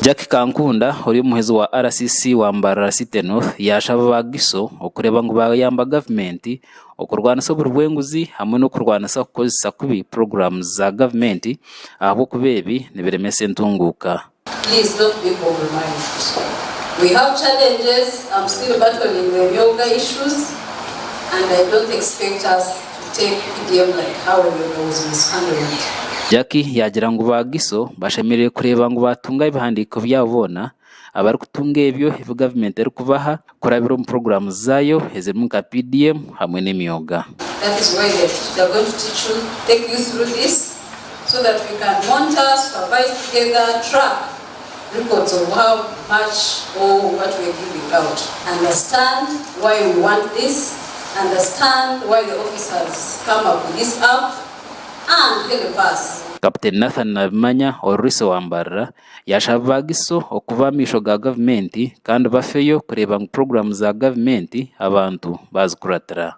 Jack Kankunda ori omuheezi wa RCC wa Mbarara City North yashaba ba GISO okureeba ngu bayamba gavumenti okurwanisa oburi bw'enguzi hamwe n'okurwanisa kukozesa kubi puroguramu za gavumenti ahabw'okuba ebi nibiremesa entunguuka. Jackie yaagira ngu ba Giso bashemereire kureeba ngu baatunga ebihandiiko byabo boona abarikutunga ebyo ebi gavumenti erikubaha kurabira omu puroguraamu zaayo ezirimu nka PDM hamwe n'emyoga. Kapiteeni Nathan Nabimanya oru Riso wambarira, yashaba ba GISO okuba amaisho ga gavumenti kandi bafeyo kureeba ngu puroguramu za gavumenti abantu bazikuratira.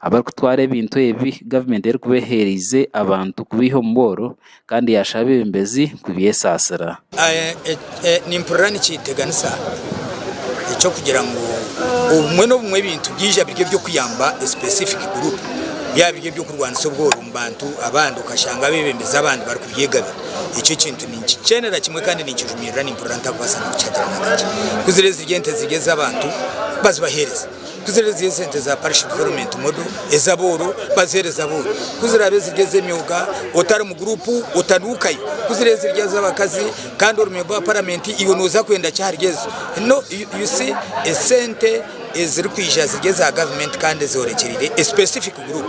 Abarikutwara ebintu ebi gavumenti erikuba eheereize abantu kubaiha omu bworo kandi yaasha abeebembezi kubyesaasira. Nimpurira nikyeteganisa eky'okugira ngu obumwe n'obumwe ebintu byaija biri eby'okuyamba a specific group byaba biri eby'okurwanisa obworo omu bantu abandi okashanga abeebembezi abandi barikubyegabira. Ekyo ekintu ninkikyenera kimwe kandi ninkijumirira nimpurira ntarikubaasa n'okukihagiraho na kakye. Kuzire ziri ente ziri ez'abantu bazibaheereze. Kuziraabe ziri esente za Parish Development Model ez'abooro baziheereze abooro, kuziraabe ziri ez'emyoga otari mu guruupu otanuukayo, kuziraabe ziri ez'abakazi kandi ori memba wa Paramenti iwe nooza kwenda ki ahari ezo? No, you see esente ezirikwija ziri eza Gavumenti kandi ezoorekyereire a specific group.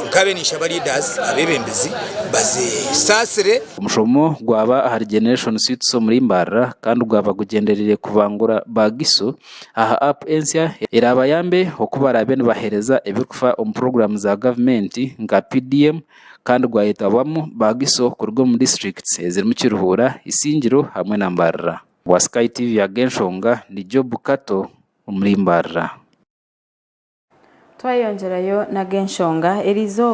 Nkaabe ninshaba leaders, abeebembezi, bazisaasire. Omushomo gwaba ahari Generation Suites omuri Mbarara kandi gwaba gugyendereire kubangura ba Gisu aha app ensya eraabayambe oku baraabe nibaheereza ebirikufa omu puroguraamu za gavumenti nka PDM kandi gwayetabwamu baagiso kuruga omu disiturikiti ezirimu Kiruhura, Isingiro hamwe na Mbarara. Owa Sky TV Ag'enshonga ni Job Kato omuri Mbarara. Twayongyerayo n'Ag'enshonga eri izooba.